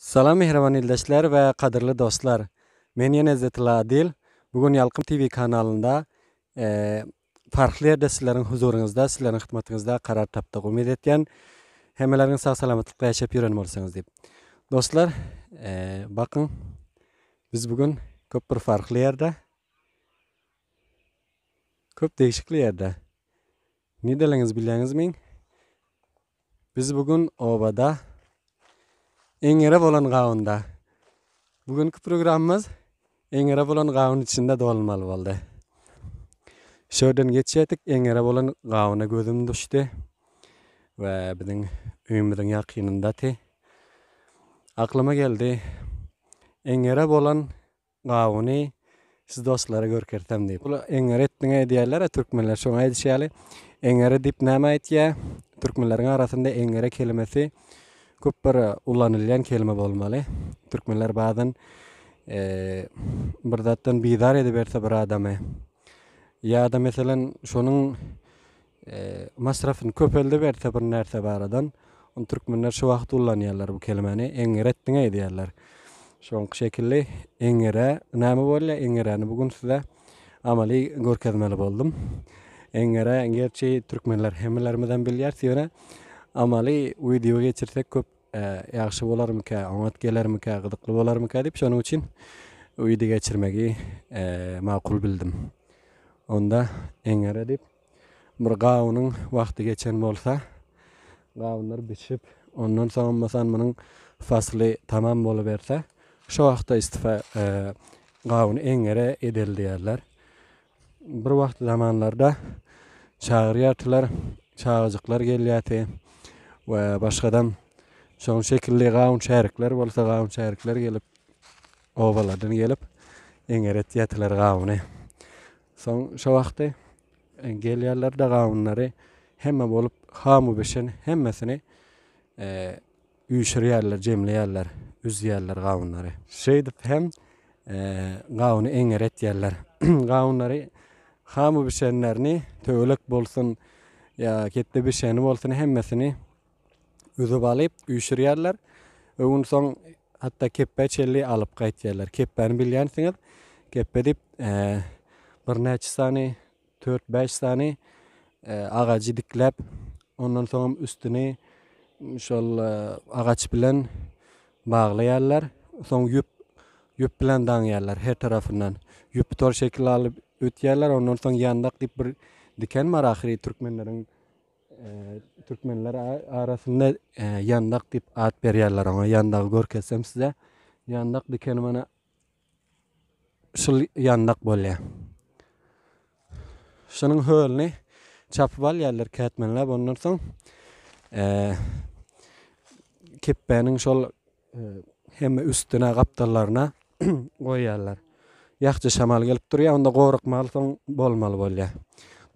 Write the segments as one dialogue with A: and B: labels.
A: Salam mähriban ildeşler we gadyrly dostlar! Men ýene Izzetilla Adil. Bu gün Ýalkym TV kanalynda farkly ýerde sizleriň huzuryňyzda, sizleriň hytmatyňyzda karar tapdyk. Umyt etýän hemmeleriňiz sag salamatlykda ýaşap ýören bolsaňyz diýip. Dostlar, bakyň biz bu gün köp bir farkly ýerde, köp degişikli ýerde. Nideleňiz bilýäňizmi? Biz bu gün obada eňere bolan gawunda. Bu günki programmamyz eňere bolan gawun içinde dolmaly boldy. Şöden geçýärdik, eňere bolan gawuna gözüm düşdi. we biziň öýümiziň ýakynyndaty. Aklyma geldi, eňere bolan Gawuny siz dostlara görkezsem diýip. Ol eňňeri etdiňä edýärler-ä türkmenler şoňa aýdyşy ýaly. Eňňeri diýip näme aýtýa? Türkmenleriň arasynda eňňeri kelimesi köp bir ulanylýan kelime bolmaly. Türkmenler bazan bir zatdan bizar ediberse bir adamy ýa-da meselen şonuň Masrafyny köpeldiberse bir närse baradan ony türkmenler şu wagt ullanýarlar bu kelimeni eňňir etdiň eýdýärler. Şoňky şekilli eňňirä näme bolýar eňňiräni bu gün size amaly görkezmeli boldum. Eňňirä gerçi türkmenler hemmelermizem bilýäris ýöne amaly wideo geçirsek köp ýagşy bolarmyka, oňat gelermika, gyzykly bolarmyka diýip şonuň üçin wideo geçirmegi makul bildim. Onda eňňire diýip Bir gawunyň wagty geçen bolsa, gawunlar bişip, ondan soň masalan munuň fasly tamam boluberse, şo wagtda istifa gawuny eňňere edeli diýerler. Bir wagt zamanlarda çagyrýartylar, çagajyklar gelýärdi we başgadam şonuň şekilli gawun şärikler bolsa, gawun şärikler gelip, obalardan gelip eňňeretýärdiler gawuny. Soň şo wagty gelýärler-de gawunlary hemme bolup hamu bişen hemmesini üýşürýärler, jemleýärler, üzýärler gawunlary. Şeýdip hem gawuny eňňer etýärler. Gawunlary hamu bişenlerini, töwelek bolsun, ýa ketde bişeni bolsun hemmesini üzüp alyp üýşürýärler. Öwünsoň hatda kepbä çenli alyp gaýtýarlar. Kepbäni bilýänsiňiz. Kepbe diýip birnäçe sany dört-bäş sany agajy dikläp, ondan soňam üstüni şol agaç bilen baglaýarlar. Soň ýüp ýüp bilen daňýarlar her tarapyndan. Ýüpi tor şekil alyp ötýärler. Ondan soň ýandak diýip bir diken bar ahyry türkmenleriň Türkmenler arasynda ýandak diýip at berýärler oňa. Ýandagy görkezsem size. Ýandak dikeni mana şul ýandak bolýar. Şunuň hölüni çapyp alýarlar kätmenläp. Ondan soň kepbäniň şol Hemme üstüne gapdallaryna goýýarlar. Ýakja şamal gelip durýar, onda gorkmaly soň bolmaly bolýar.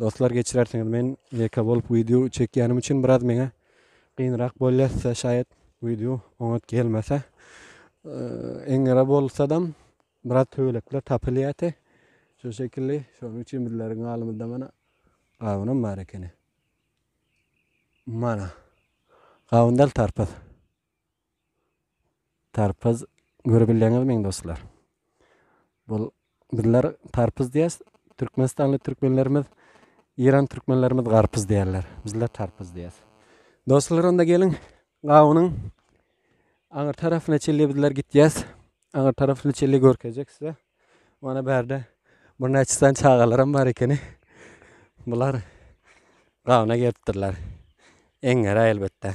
A: Dostlar geçirersiňiz men ýeke bolup wideo çekýänim üçin biraz meňe gynrak bolýar size şaýat wideo oňat gelmese. Eňňere bolsadam biraz töwelekler tapylýate. Şu şekilli şonuň üçin bizleriň galymyzda mana gawunam bar ekeni. Mana. Gawun däl tarpyz. Tarpyz görebilýäňizmi dostlar? Bul bizler tarpyz diýýäs, türkmenistanly türkmenlerimiz, eýran türkmenlerimiz garpyz diýýärler. Bizler tarpyz diýýäs. Dostlar, onda geliň, gawunyň aňyr tarafyna çelli bizler gitýäs. Aňyr tarafyny çelli görkezjek size. Mana bärde bir näçe san çagalaram bar ekeni. Bular gawuna gelipdirler. Eňňere elbetde.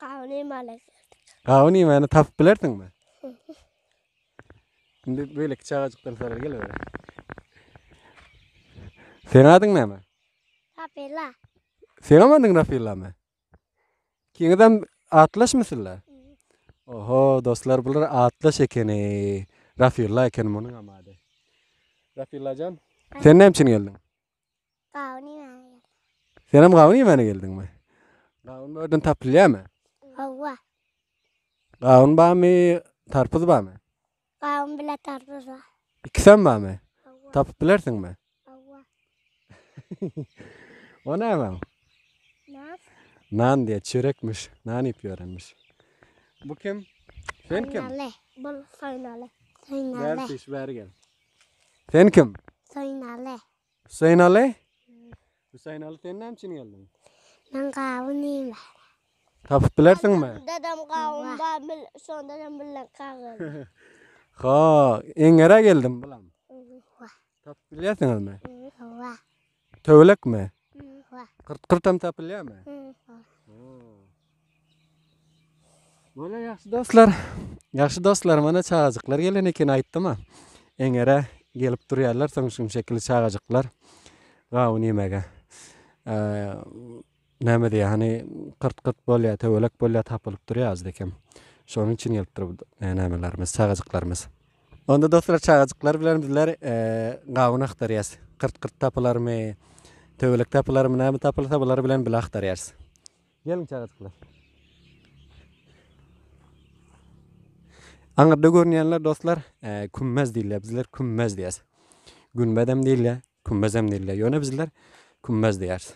B: Gawun iýmäne geldik. Gawun iýmäne tapyp
A: bilersiňmi? Şimdi beýleki çagajykdan sorar gel bäri. Seň adyň näme? Rapila.
B: Seňem
A: adyň Rafillamy? Kiňizem atlaşmy sizler? Oho, dostlar bular atlaş ekeni. Rafilla ekeni munuňam ady. Rafillajan, sen näme üçin geldiň? Gawun
B: iýmäne geldim. Senem gawun
A: iýmäne geldiňmi? Gawun bu ýerden tapylýarmy? Hawa. Gawun barmy, tarpyz barmy? Gawun bile
B: tarpyz bar. Ikisem barmy?
A: Hawa. Tapyp bilersiňmi?
B: Hawa.
A: o näme? Nan.
B: Nan diýe,
A: çörekmiş. Nan iýip ýörenmiş. Bu kim? Sen kim?
B: Soýnaly. Bul soýnaly.
A: Soýnaly. Bäri gel. Sen kim? Hüseynaly.
B: Hüseynaly?
A: Hüseynaly sen näme üçin geldiň? Men gawun
B: iýme. Tapyp
A: bilersiňmi? Dadam gawun
B: bar, bil, şonda hem bilen kagyz. Ha,
A: eňere geldim bulam.
B: Tapyp bilýärsiňizmi?
A: Hawa.
B: Töwelekmi?
A: Bar.
B: Gyrt-gyrtam
A: tapylýarmy? Bar. Bolýar ýagşy dostlar. Ýagşy dostlar, mana çagajyklar gelen eken aýtdym-a. Eňere gelip durýarlar soň şum şekilli çagajyklar gawun ýemege. Näme diýýär, hany, gyrt-gyrt bolýar, töwelek bolýar, tapylyp durýar özde kim. Şonuň üçin gelipdir bu e, nämelerimiz, çagajyklarymyz. Onda dostlar çagajyklar bilen bizler e, gawun aktarýas. Gyrt-gyrt tapylarmy, töwelek tapylarmy, näme tapylsa bular bilen bile aktarýas. Geliň çagajyklar. Aňyrda görünýänler dostlar, e, kümmez diýilýär. Bizler kümmez diýýäs. Günbedem diýilýär. Kümmezem diýilýär. Ýöne bizler kümmez diýýäris.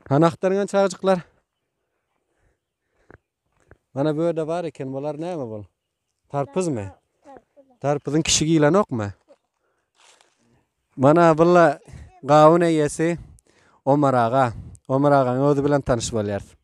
A: Hany agtarňan çagajyklar. Mana bu ýerde bar eken bular näme bol? Tarpyzmy? Tarpyzyň kişi giýlenokmy? Mana bulla gawun eýesi Omar aga. Omar agaň özi bilen tanyş bolýarys.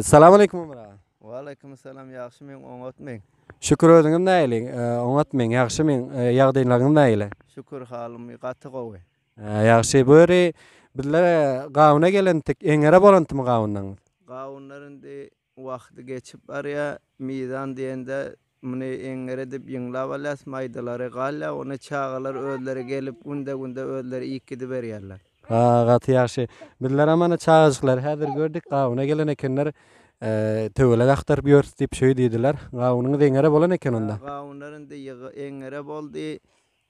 A: Salam aleýkum Ömer aga. Waleýkim salam
C: ýagşymyň oňatmyň. Şükür özüňem
A: näliň oňatmyň ýagşymyň ýagdaýlaryňyz nägile. Şükür halym
C: gaty gowy. Ýagşy bu
A: ýeri bizler gawuna gelendik eňere bolantymy gawunlaryňyz. Gawunlar indi
C: wagty geçip barýa mizan diýende Muny eňňer edip ýyňlap alýas, maýdalary galýa, ony çagalar özleri gelip günde-günde özleri iýip gidiberýärler. Ha, gaty ýagşy.
A: Bizlerem ana çagajyklary häzir gördük, gawuna gelen ekenler. Töwelek agtaryp ýörüs diýip şöýdidiler. Gawunyňyz eňňere bolan eken onda. Gawunlar indi
C: eňňere boldy.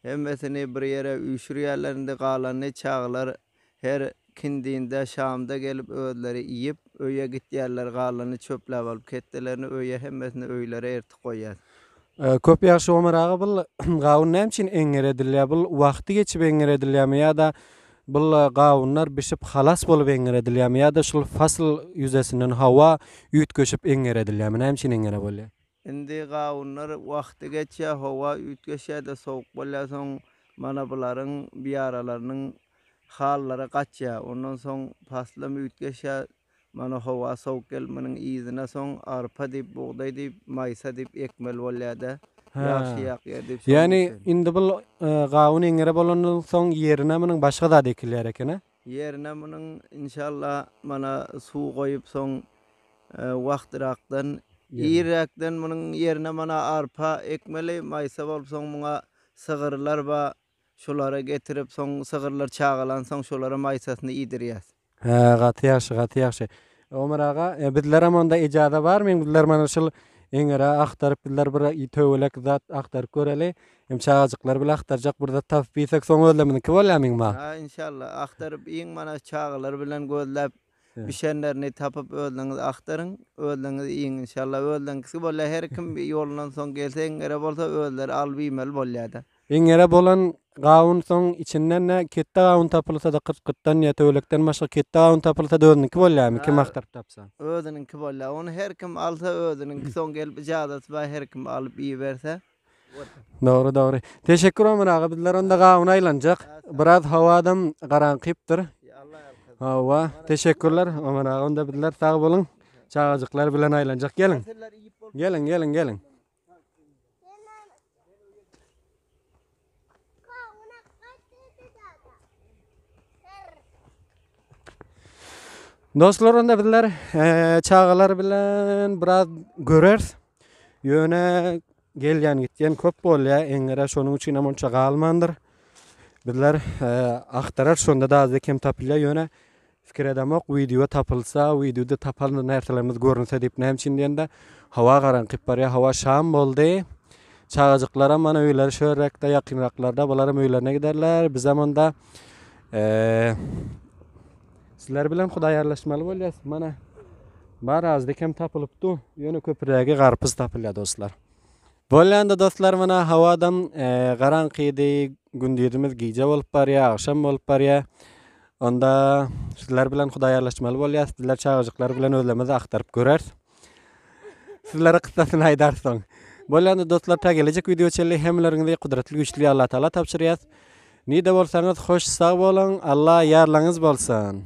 C: Hemmesini bir ýere üýşürýärler indi, galanyny çagalar her kindinde, şamda gelip özleri iýip, öýe gitýärler, galanyny çöpläp alyp ketdelerini öýe hemmesini öýlere ertip goýýas. Köp
A: ýagşy Omar aga bul gawun näme üçin eňňer edilýär bul wagty geçip eňňer edilýärmi ýada bul gawunlar bişip halas bolup eňňer edilýärmi ýada şul fasyl ýüzesinden howa üýtgeşip eňňer edilýärmi näme üçin eňňere bolýar. Indi gawunlar
C: wagty geçýär, howa üýtgeşýär-de sowuk bolýar, soň mana bularyň biaralarynyň hallary gaçýar. Ondan soň paslym üýtgeşýär, mana howa sowuk gelip munuň yzyna soň arpa diýip, bugdaý diýip, maýsa diýip ekmeli bolýar-da. Hä. Ýagşyýak ýer diýip şonuň Ýagny üçin. indi bul
A: gawun eňňere bolandan soň ýerine munuň başga zat ekilýär eken-ä? Ýerine munuň
C: inşallah mana suw goýup soň wagtyrakdan irräkden munuň ýerine mana arpa ekmeli maýsa bolup soň muňa sygyrlar bar şolary getirip soň sygyrlar çagalan soň şolara maýsasyny iýdirýäs. Hä gaty ýagşy
A: gaty ýagşy Omar aga bizlerem onda ejaza barmyň bizler mana şul eňere agtaryp bizler bir töwelek zat agtaryp göreli Hem çagajyklar bile agtarjak bir zat tapyp bilsek soň özlemizniňki bolýar meňba. Ha inşallah agtaryp
C: iň mana çagalar bilen gözläp bişenlerini tapyp özleňiz agtaryň özleňiz iýiň inşallah özleňkisi bolýar her kim ýolundan soň gelse iň ere bolsa özleri alyp iýmeli bolýada. Iň ere bolan
A: gawun soň içindende ketde gawun tapylsada kyrk gytdan ýa töwelekden başga ketde gawun tapylsada özüniňki bolýarmy kim agtaryp tapsa. Özüniňki bolýar
C: ony her kim alsa özüniňki soň gelip ijazasy bar her kim alyp iýiberse. Dogry
A: dogry. Teşekkür Ömer aga bizler onda gawun aylanjak. Biraz havadam garankypdyr. Hawa teşekkürler Ömer aga onda bizler sag bolun. Çagajyklar bilen aylanjak gelin. Gelin gelin gelin. Dostlar onda bizler e, çagalar bilen biraz görers. Yöne gelýän gitýän köp bolýar. Eňere şonuň üçin hem onça galmandyr. Bizler e, aktarar şonda da azda kem tapylýar. Yöne Pikir edemok wideo tapylsa wideoda tapan närselerimiz görünse diýip näme üçin diýende howa garaňkyp barýar howa şam boldy çagajyklaram mana öýleri şu ýerrekde ýakynraklarda bularam öýlerine giderler bizem onda sizler bilen hudaýarlaşmaly bolýas mana bar azdyk hem tapylypdy ýöne köpürägi garpyz tapylýar dostlar Bolýanda dostlar mana hawadam garaňkydy, gündizimiz gije bolup barýar, agşam bolup barýar. Onda sizler bilen hudaýarlaşmaly bolýar. Sizler çagajyklar bilen özlemizi aktaryp göreris. Sizlere kyssasyny aýdarys soň. Bolýanda dostlar ta gelejek wideo çenli hemmeleriňizi gudratly güýçli Allah Taala tabşyrýas. Nide bolsaňyz hoş sag boluň. Allah ýarlaňyz bolsun.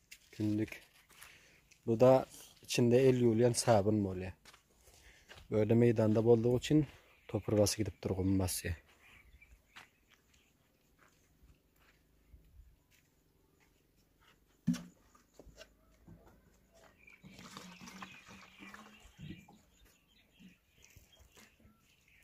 A: Günlük. Bu da içinde el ýuwulýan sabyn bolýar. Böyle meýdanda boldugy üçin topur basy gidip dur gum basy.